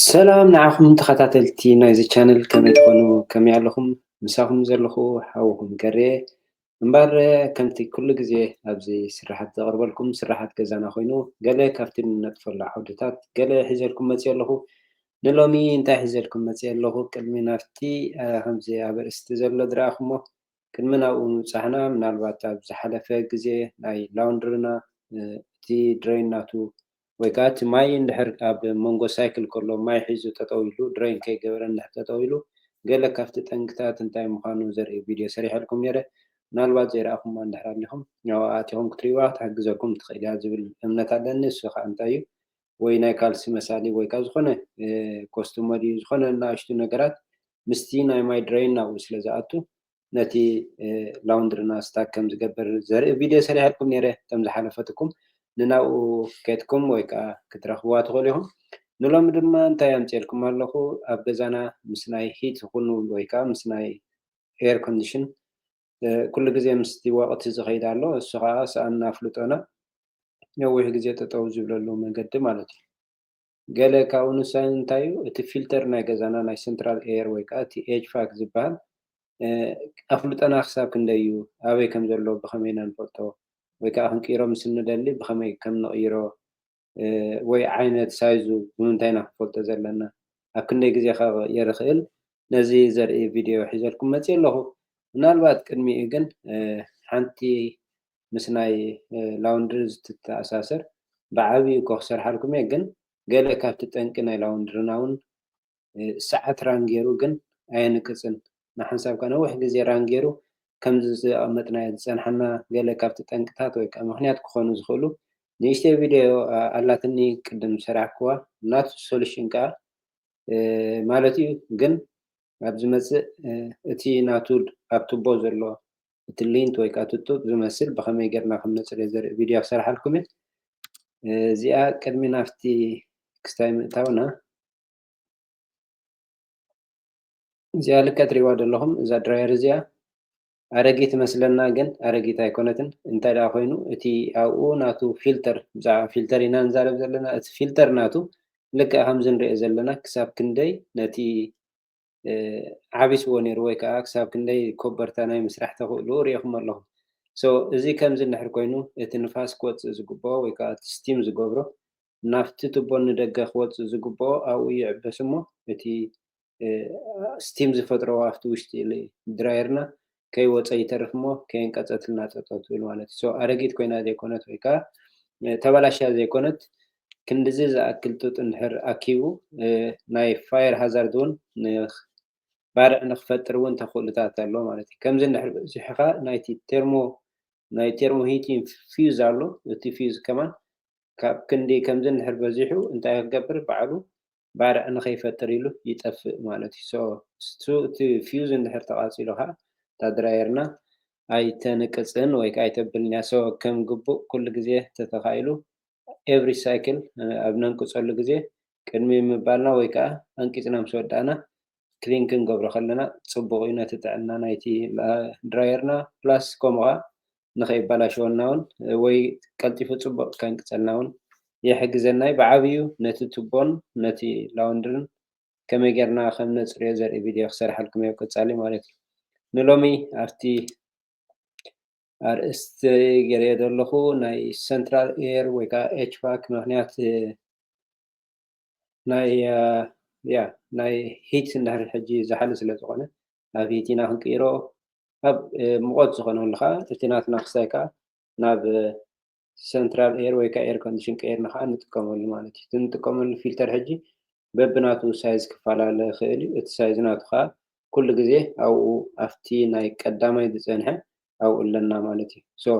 ሰላም ንዓኹም ተኸታተልቲ ናይዚ ቻነል ከመይ ትኾኑ ከመይ ኣለኹም ምሳኹም ዘለኹ ሓውኹም ገሬ እምበር ከምቲ ኩሉ ግዜ ኣብዚ ስራሓት ዘቕርበልኩም ስራሓት ገዛና ኮይኑ ገለ ካብቲ ንነጥፈሉ ዓውድታት ገለ ሒዘልኩም መፂኦ ኣለኹ ንሎሚ እንታይ ሒዘልኩም መጺኤ ኣለኹ ቅድሚ ናብቲ ከምዚ ኣብ ኣርእስቲ ዘሎ ዝረኣኹሞ ቅድሚ ናብኡ ምብጻሕና ምናልባት ኣብ ዝሓለፈ ግዜ ናይ ላውንድርና እቲ ድረይን ናቱ ወይ ከኣ እቲ ማይ እንድሕር ኣብ መንጎ ሳይክል ከሎ ማይ ሒዙ ጠጠው ኢሉ ድረይን ከይገበረ እንድሕር ጠጠው ኢሉ ገለ ካብቲ ጠንቅታት እንታይ ምዃኑ ዘርኢ ቪድዮ ሰሪሐልኩም ኔረ ምናልባት ዘይረኣኹማ እንድሕር ኣሊኹም ኣብኣ ኣቲኹም ክትሪእዋ ክትሕግዘኩም ትኽእል እያ ዝብል እምነት ኣለኒ እሱ ከኣ እንታይ እዩ ወይ ናይ ካልሲ መሳሊ ወይ ከኣ ዝኾነ ኮስቱመሪ ዝኾነ ንኣሽቱ ነገራት ምስቲ ናይ ማይ ድረይን ናብኡ ስለ ዝኣቱ ነቲ ላውንድርና ስታክ ከም ዝገብር ዘርኢ ቪድዮ ሰሪሐልኩም ነይረ ከም ዝሓለፈትኩም ንናብኡ ኬድኩም ወይ ከኣ ክትረኽብዋ ትኽእሉ ኢኹም ንሎሚ ድማ እንታይ ኣምጽኤልኩም ኣለኹ ኣብ ገዛና ምስ ናይ ሂት ይኹን ወይ ከኣ ምስ ናይ ኤር ኮንዲሽን ኩሉ ግዜ ምስቲ ወቕቲ ዝኸይድ ኣሎ፣ እሱ ከኣ ሰኣን ኣፍልጦና ነዊሕ ግዜ ጠጠው ዝብለሉ መንገዲ ማለት እዩ። ገለ ካብኡ ንሳይ እንታይ እዩ እቲ ፊልተር ናይ ገዛና ናይ ሰንትራል ኤየር ወይ ከኣ እቲ ኤችፋክ ዝበሃል ኣፍልጦና ክሳብ ክንደይ እዩ፣ ኣበይ ከም ዘሎ ብኸመይ ኢና ንፈልጦ ወይ ከኣ ክንቅይሮ ምስ እንደሊ ብኸመይ ከም ንቕይሮ ወይ ዓይነት ሳይዙ ብምንታይ ኢና ክንፈልጦ ዘለና ኣብ ክንደይ ግዜ ከ ክቕየር ይኽእል ነዚ ዘርኢ ቪድዮ ሒዘልኩም መጺኤ ኣለኹ ምናልባት ቅድሚኡ ግን ሓንቲ ምስ ናይ ላውንድሪ ዝትተኣሳሰር ብዓቢኡ እኮ ክሰርሓልኩም እየ ግን ገለ ካብቲ ጠንቂ ናይ ላውንድርና ውን ሰዓት ራን ጌሩ ግን ኣየንቅጽን ንሓንሳብ ከኣ ነዊሕ ግዜ ራን ጌሩ ከምዚ ዘቀመጥናዮ ዝጸንሓና ገለ ካብቲ ጠንቅታት ወይ ከኣ ምክንያት ክኮኑ ዝክእሉ ንእሽተይ ቪደዮ ኣላትኒ ቅድም ዝሰራሕክዋ ናቱ ሰሉሽን ከኣ ማለት እዩ ግን ኣብ ዝመጽእ እቲ ናቱ ኣብ ቱቦ ዘሎ እቲ ሊንት ወይ ከኣ እቲ ጡብ ዝመስል ብከመይ ጌርና ከም ነጽርዮ ዘርኢ ቪደዮ ክሰርሓልኩም እየ እዚኣ ቅድሚ ናብቲ ክስታይ ምእታውና እዚኣ ልክዕ ትሪእዋ ዘለኹም እዛ ድራየር እዚኣ ኣረጊት መስለና ግን ኣረጊት ኣይኮነትን እንታይ ደኣ ኮይኑ እቲ ኣብኡ ናቱ ፊልተር ብዛዕባ ፊልተር ኢና ንዛረብ ዘለና እቲ ፊልተር ናቱ ልክዕ ከምዚ ንሪኦ ዘለና ክሳብ ክንደይ ነቲ ዓቢስዎ ነይሩ ወይ ከዓ ክሳብ ክንደይ ኮበርታ ናይ ምስራሕ ተኽእሉ ሪኢኹም ኣለኹም ሶ እዚ ከምዚ እንድሕር ኮይኑ እቲ ንፋስ ክወፅእ ዝግብኦ ወይ ከዓ እቲ ስቲም ዝገብሮ ናብቲ ቱቦ ንደገ ክወጽእ ዝግብኦ ኣብኡ ይዕበስ እሞ እቲ ስቲም ዝፈጥሮ ኣብቲ ውሽጢ ድራየርና ከይወጸ ይተርፍ እሞ ከየንቀጸትልና ጠጠው ትብል ማለት እዩ። ሶ ኣረጊት ኮይና ዘይኮነት ወይ ከዓ ተበላሽያ ዘይኮነት ክንድዚ ዝኣክል ጡጥ እንድሕር ኣኪቡ ናይ ፋየር ሃዛርድ እውን ባርዕ ንክፈጥር እውን ተኽእሎታት ኣሎ ማለት እዩ። ከምዚ እንድሕር በዚሑ ከዓ ናይቲ ቴርሞ ናይ ቴርሞ ሂት ፊውዝ ኣሎ እቲ ፊውዝ ከማን ካብ ክንዲ ከምዚ እንድሕር በዚሑ እንታይ ክገብር ባዕሉ ባርዕ ንከይፈጥር ኢሉ ይጠፍእ ማለት እዩ so እሱ እቲ fuse እንድሕር ተቃጺሉ ከኣ እታ ድራየርና ኣይተንቅጽን ወይ ከኣ ኣይተብልን እያ so ከም ግቡእ ኩሉ ግዜ ተተካኢሉ every cycle ኣብ ነንቅጸሉ ግዜ ቅድሚ ምባልና ወይ ከኣ ኣንቂጽና ምስ ወዳእና clean ክንገብሮ ከለና ጽቡቅ እዩ ነቲ ጥዕና ናይቲ ድራየርና plus ከምኡ ከኣ ንኸይበላሸወና ውን ወይ ቀልጢፉ ጽቡቕ ከንቅጸልና ውን ይሕግዘና'ዩ። ብዓብይኡ ነቲ ቱቦን ነቲ ላውንድርን ከመይ ጌርና ከም ነጽርዮ ዘርኢ ቪድዮ ክሰርሓልኩም'የ ኣብ ቀጻሊ ማለት'ዩ። ንሎሚ ኣብቲ ኣርእስተይ ጌረዮ ዘለኹ ናይ ሰንትራል ኤር ወይ ከኣ ኤችቫክ ምኽንያት ናይ ናይ ሂት እንድሕር ሕጂ ዝሓሊ ስለ ዝኾነ ናብ ሂት ኢና ክንቅይሮ ኣብ ሙቐት ዝኾነሉ ከዓ እቲ ናትና ክሳይ ከዓ ናብ ሰንትራል ኤር ወይ ከዓ ኤር ኮንዲሽን ቀይርና ከዓ ንጥቀመሉ ማለት እዩ እቲ ንጥቀመሉ ፊልተር ሕጂ በብናቱ ሳይዝ ክፈላለ ይኽእል እዩ እቲ ሳይዝ ናቱ ከዓ ኩሉ ግዜ ኣብኡ ኣብቲ ናይ ቀዳማይ ዝፀንሐ ኣብኡ ኣለና ማለት እዩ ሶ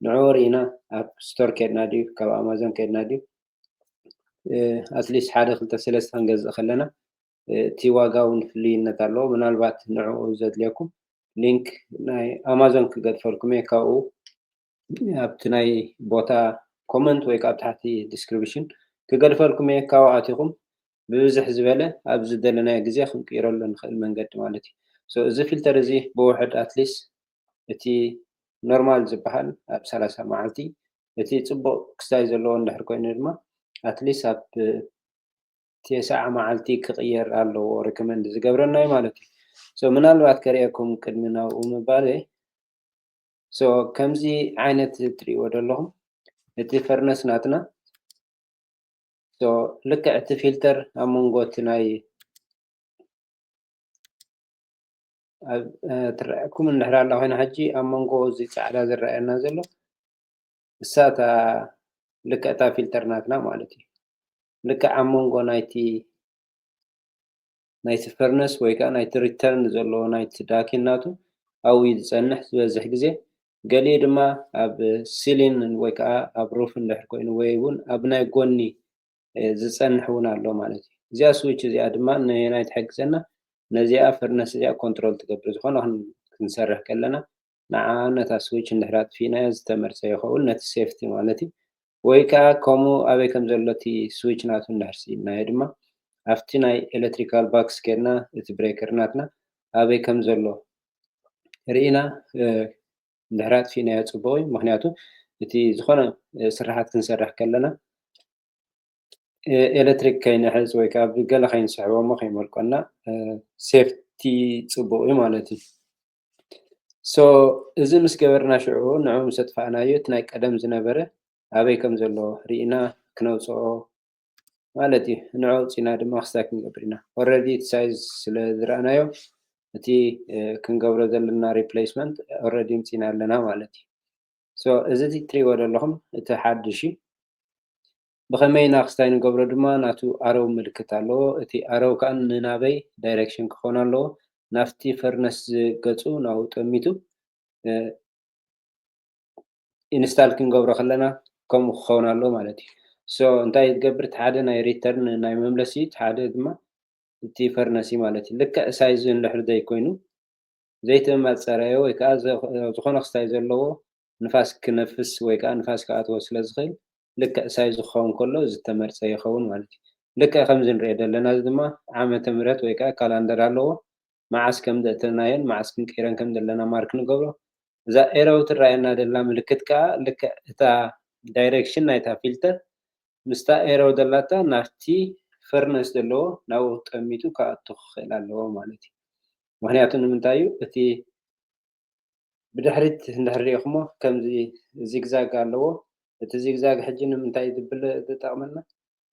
ንዑ ርኢና ኣብ ስቶር ከድና ድዩ ካብ ኣማዞን ከድና ድዩ ኣትሊስት ሓደ ክልተ ሰለስተ ክንገዝእ ከለና እቲ ዋጋ እውን ፍልይነት ኣለዎ ምናልባት ንዕኡ ዘድልየኩም ሊንክ ናይ ኣማዞን ክገድፈልኩም እየ ካብኡ ኣብቲ ናይ ቦታ ኮመንት ወይ ካብ ታሕቲ ዲስክሪፕሽን ክገድፈልኩም እየ ካብኡ ኣቲኹም ብብዝሕ ዝበለ ኣብ ዝደለናዮ ግዜ ክንቅይረሉ ንኽእል መንገዲ ማለት እዩ እዚ ፊልተር እዚ ብውሕድ ኣትሊስት እቲ ኖርማል ዝበሃል ኣብ ሰላሳ መዓልቲ እቲ ፅቡቕ ክስታይ ዘለዎ እንድሕር ኮይኑ ድማ ኣትሊስት ኣብ ቴስዓ መዓልቲ ክቕየር ኣለዎ ሪኮመንድ ዝገብረና እዩ ማለት እዩ ሶ ምናልባት ከርእየኩም ቅድሚ ናብኡ ምባለይ ሶ ከምዚ ዓይነት ትርእይዎ ዘለኹም እቲ ፈርነስ ናትና ሶ ልክዕ እቲ ፊልተር ኣብ መንጎ እቲ ናይ ትረኣየኩም እንድሕር ኣላ ኮይና ሕጂ ኣብ መንጎ እዚ ፃዕዳ ዝረኣየና ዘሎ እሳ እታ ልክዕ እታ ፊልተር ናትና ማለት እዩ ልክዕ ኣብ መንጎ ናይቲ ናይቲ ፈርነስ ወይ ከዓ ናይቲ ሪተርን ዘሎ ናይቲ ዳኪን ናቱ ኣብኡ እዩ ዝፀንሕ ዝበዝሕ ግዜ ገሊኡ ድማ ኣብ ሲሊን ወይ ከዓ ኣብ ሩፍ እንድሕር ኮይኑ ወይ እውን ኣብ ናይ ጎኒ ዝጸንሕ ውን ኣሎ ማለት እዩ። እዚኣ ስዊች እዚኣ ድማ ነየናይ ትሕግዘና ነዚኣ ፈርነስ እዚኣ ኮንትሮል ትገብር ዝኾነ ክንሰርሕ ከለና ንዓኣ ነታ ስዊች እንድሕር ኣጥፊእናያ ዝተመርጸ ይኸውን ነቲ ሴፍቲ ማለት እዩ። ወይ ከኣ ከምኡ ኣበይ ከም ዘሎ እቲ ስዊች ናቱ እንድሕር ስኢንናዮ ድማ ኣብቲ ናይ ኤለትሪካል ባክስ ኬድና እቲ ብሬከር ናትና ኣበይ ከም ዘሎ ርኢና እንድሕር ኣጥፊእናዮ ፅቡቕ እዩ ምክንያቱ እቲ ዝኾነ ስራሓት ክንሰርሕ ከለና ኤሌክትሪክ ከይንሕዝ ወይ ከዓ ብገለ ከይንስሕቦ እሞ ከይመልቆና ሴፍቲ ፅቡቅ እዩ ማለት እዩ ሶ እዚ ምስ ገበርና ሽዑ ንዑ ምስ ኣጥፋእናዮ እቲ ናይ ቀደም ዝነበረ ኣበይ ከም ዘሎ ርኢና ክነውፅኦ ማለት እዩ ንዑ ኣውፂና ድማ ክስታይ ክንገብር ኢና ኦረዲ እቲ ሳይዝ ስለ ዝረኣናዮ እቲ ክንገብሮ ዘለና ሪፕሌስመንት ኦረዲ ምፂና ኣለና ማለት እዩ ሶ እዚ ትሪእዎ ዘለኹም እቲ ሓድሽ እዩ ብኸመይ ኢና ክስታይ ንገብሮ ድማ ናቱ ኣረው ምልክት ኣለዎ እቲ ኣረው ከዓ ንናበይ ዳይሬክሽን ክኾን ኣለዎ ናፍቲ ፈርነስ ዝገፁ ናብኡ ጠሚቱ ኢንስታል ክንገብሮ ከለና ከምኡ ክኸውን ኣለዎ ማለት እዩ ሶ እንታይ ትገብር እቲ ሓደ ናይ ሪተርን ናይ መምለሲ እዩ እቲ ሓደ ድማ እቲ ፈርነሲ ማለት እዩ ልክዕ ሳይዙ እንድሕር ዘይኮይኑ ዘይተመማፅ ፀረዮ ወይ ከዓ ዝኾነ ክስታይ ዘለዎ ንፋስ ክነፍስ ወይ ከዓ ንፋስ ክኣትዎ ስለ ዝኽእል ልክዕ ሳይዙ ክኸውን ከሎ ዝተመርፀ ይኸውን ማለት እዩ ልክዕ ከምዚ ንሪኦ ዘለና እዚ ድማ ዓመተ ምህረት ወይ ከዓ ካላንደር ኣለዎ መዓስ ከም ዘእተናዮን መዓስ ክንቅይረን ከም ዘለና ማርክ ንገብሮ እዛ ኤረው ትረኣየና ደላ ምልክት ከኣ ልክዕ እታ ዳይረክሽን ናይታ ፊልተር ምስታ ኤረው ደላታ ናብቲ ፈርነስ ደለዎ ናብኡ ጠሚቱ ክኣቱ ክክእል ኣለዎ ማለት እዩ ምክንያቱ ንምንታይ እዩ እቲ ብድሕሪት እንድሕር ሪኢክሞ ከምዚ ዚግዛግ ኣለዎ እቲ ዚግዛግ ሕጂ ንምንታይ እዩ ዝጠቅመና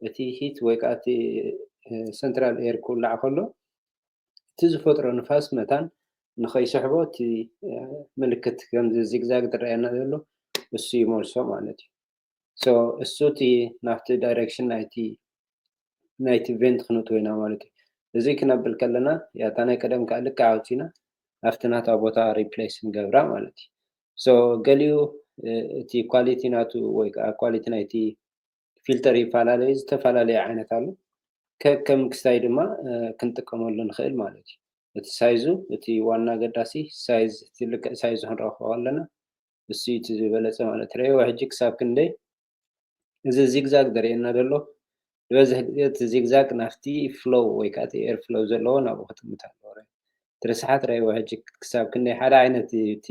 እቲ ሂት ወይ ከዓ እቲ ሰንትራል ኤር ክውላዕ ከሎ እቲ ዝፈጥሮ ንፋስ መታን ንኸይስሕቦ እቲ ምልክት ከምዚ ዚግዛግ ዝረኣየና ዘሎ እሱ ይመልሶ ማለት እዩ ሶ እሱ እቲ ናብቲ ዳይሬክሽን ናይቲ ናይቲ ቬንት ክነእትዎ ኢና ማለት እዩ እዚ ክነብል ከለና ያታ ናይ ቀደም ከዓ ልክዕ ኣውፂና ኣብቲ ናታ ቦታ ሪፕሌስ ንገብራ ማለት እዩ ሶ ገሊኡ እቲ ኳሊቲ ናቱ ወይ ከዓ ኳሊቲ ናይቲ ፊልተር ይፈላለዩ ዝተፈላለዩ ዓይነት ኣሉ ከከም ክስታይ ድማ ክንጥቀመሉ ንኽእል ማለት እዩ እቲ ሳይዙ እቲ ዋና ኣገዳሲ ሳይዝ እቲ ልክዕ ሳይዙ ክንረኽቦ ኣለና እሱ እቲ ዝበለፀ ማለት ረእዎ ሕጂ ክሳብ ክንደይ እዚ ዚግዛግ ዘርእየና ዘሎ ዝበዝሕ ግዜ እቲ ዚግዛግ ናፍቲ ፍሎው ወይ ከዓ እቲ ኤር ፍሎው ዘለዎ ናብኡ ክጥምት ኣለዎ እቲ ርስሓት ረእዎ ሕጂ ክሳብ ክንደይ ሓደ ዓይነት እቲ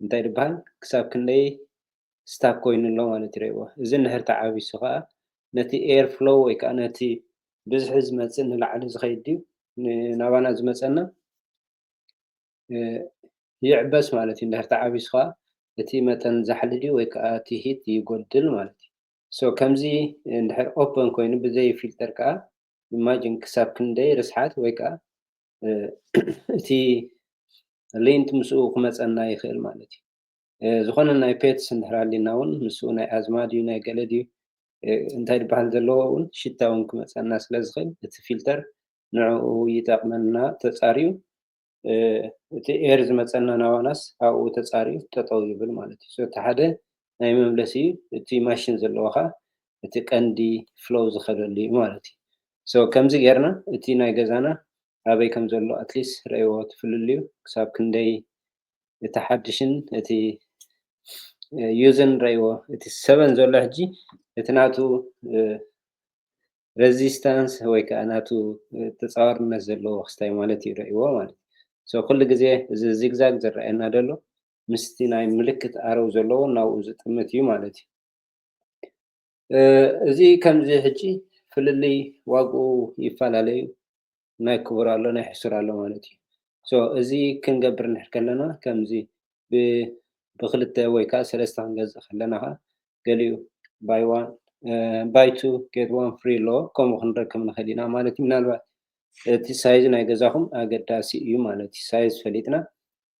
እንታይ ድበሃል ክሳብ ክንደይ ስታክ ኮይኑ ኣሎ ማለት እዩ ርኤዎ እዚ እንድሕር ተዓቢሱ ከኣ ነቲ ኤር ፍሎው ወይ ከኣ ነቲ ብዝሒ ዝመጽእ ንላዕሊ ዝኸይድ ድዩ ናባና ዝመጸና ይዕበስ ማለት እዩ እንድሕር ተዓቢሱ ከኣ እቲ መጠን ዛሕሊ ድዩ ወይ ከኣ እቲ ሂት ይጎድል ማለት እዩ ሶ ከምዚ እንድሕር ኦፐን ኮይኑ ብዘይ ፊልተር ከኣ ኢማጂን ክሳብ ክንደይ ርስሓት ወይ ከኣ እቲ ሊንት ምስኡ ክመጸና ይኽእል ማለት እዩ ዝኾነ ናይ ፔትስ እንድሕር ሃልዩና እውን ንሱ ናይ ኣዝማ ድዩ ናይ ገለ ድዩ እንታይ ዝበሃል ዘለዎ እውን ሽታ እውን ክመፀና ስለ ዝኽእል እቲ ፊልተር ንዕኡ ይጠቕመና ተፃርዩ እቲ ኤር ዝመፀና ናባናስ ኣብኡ ተፃርዩ ጠጠው ይብል ማለት እዩ እቲ ሓደ ናይ መምለሲ እዩ እቲ ማሽን ዘለዎ ከዓ እቲ ቀንዲ ፍሎው ዝኸደሉ እዩ ማለት እዩ ሶ ከምዚ ጌርና እቲ ናይ ገዛና ኣበይ ከም ዘሎ ኣትሊስ ረእይዎ ትፍልልዩ ክሳብ ክንደይ እቲ ሓድሽን እቲ ዩዝን ረይዎ እቲ ሰበን ዘሎ ሕጂ እቲ ናቱ ረዚስታንስ ወይ ከዓ ናቱ ተፃዋርነት ዘለዎ ክስታይ ማለት እዩ ረይዎ ማለት እዩ ኩሉ ግዜ እዚ ዚግዛግ ዝረኣየና ዘሎ ምስቲ ናይ ምልክት ኣረው ዘለዎ ናብኡ ዝጥምት እዩ ማለት እዩ እዚ ከምዚ ሕጂ ፍልልይ ዋግኡ ይፈላለዩ ናይ ክቡር ኣሎ ናይ ሕሱር ኣሎ ማለት እዩ so እዚ ክንገብር እንድሕር ከለና ከምዚ ብ ብክልተ ወይ ከዓ ሰለስተ ክንገዝእ ከለና ከዓ ገሊኡ by one by two get one free ኣሎ ከምኡ ክንረክብ ንክእል ኢና ማለት እዩ ምናልባት እቲ ሳይዝ ናይ ገዛኹም ኣገዳሲ እዩ ማለት እዩ ሳይዝ ፈሊጥና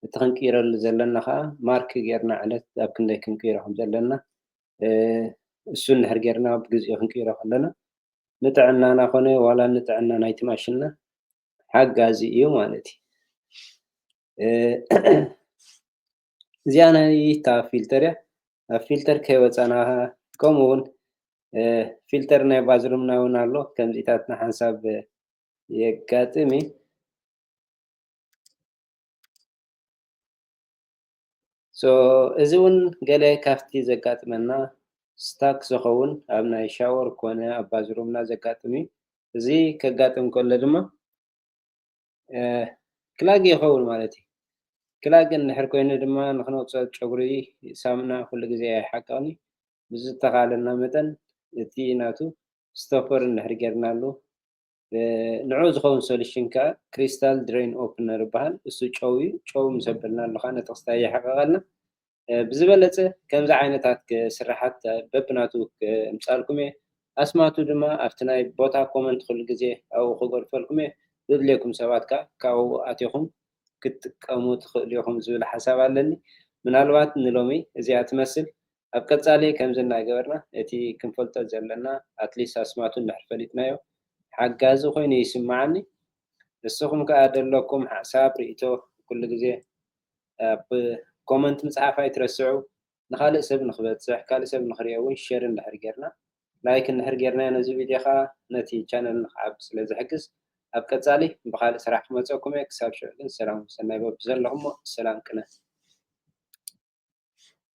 እቲ ክንቅይረሉ ዘለና ከዓ ማርክ ጌርና ዕለት ኣብ ክንደይ ክንቅይሮ ከም ዘለና እሱ እንድሕር ጌርና ብግዜኡ ክንቅይሮ ከለና ንጥዕናና ኮነ ዋላ ንጥዕና ናይቲ ማሽንና ሓጋዚ እዩ ማለት እዩ። እዚኣ ናይታ ፊልተር እያ ኣብ ፊልተር ከይወፃና ከምኡ እውን ፊልተር ናይ ባዝሩምና እውን ኣሎ ከምዚታት ንሓንሳብ የጋጥም እዩ so እዚ ውን ገለ ካብቲ ዘጋጥመና ስታክ ዝኸውን ኣብ ናይ ሻወር ኮነ ኣብ ባዝሩምና ዘጋጥም እዩ እዚ ከጋጥም ከሎ ድማ ክላግ ይኸውን ማለት እዩ ክላግ እንድሕር ኮይኑ ድማ ንክነውጽኦ ጨጉሪ ሳሙና ኩሉ ግዜ ኣይሓቅቕን እዩ ብዝተኻለና መጠን እቲ ናቱ ስቶፐር እንድሕር ጌርናሉ ንዕኡ ዝኸውን ሶሉሽን ከኣ ክሪስታል ድሬን ኦፕነር ይበሃል እሱ ጨው እዩ ጨው ምስ ኣበልናሉ ከኣ ነቲ ክስታይ የሕቕቐልና ብዝበለጸ ከምዚ ዓይነታት ስራሓት በብናቱ ክምጻልኩም እየ ኣስማቱ ድማ ኣብቲ ናይ ቦታ ኮመንት ኩሉ ግዜ ኣብኡ ክገድፈልኩም እየ ዘድልየኩም ሰባት ከኣ ካብኡ ኣቲኹም ክትጥቀሙ ትኽእሉ ኢኹም ዝብል ሓሳብ ኣለኒ ምናልባት ንሎሚ እዚኣ ትመስል ኣብ ቀጻሊ ከምዚ እናገበርና እቲ ክንፈልጦ ዘለና ኣትሊስት ኣስማቱ እንድሕር ፈሊጥናዮ ሓጋዚ ኮይኑ ይስመዓኒ ንስኹም ከኣ ደለኩም ሓሳብ ሪኢቶ ኩሉ ግዜ ኣብ ኮመንት ምጽሓፍ ኣይትረስዑ ንኻልእ ሰብ ንኽበጽሕ ካልእ ሰብ ንኽሪኦ ውን ሸር እንድሕር ጌርና ላይክ እንድሕር ጌርናዮ ነዚ ቪድዮ ከኣ ነቲ ቻነል ንኽዓቢ ስለ ዝሕግዝ ኣብ ቀጻሊ ብኻልእ ስራሕ ክመጸኩም እየ ክሳብ ሽዑ ግን ሰላም ሰናይ በብዘለኹሞ ሰላም ቅነ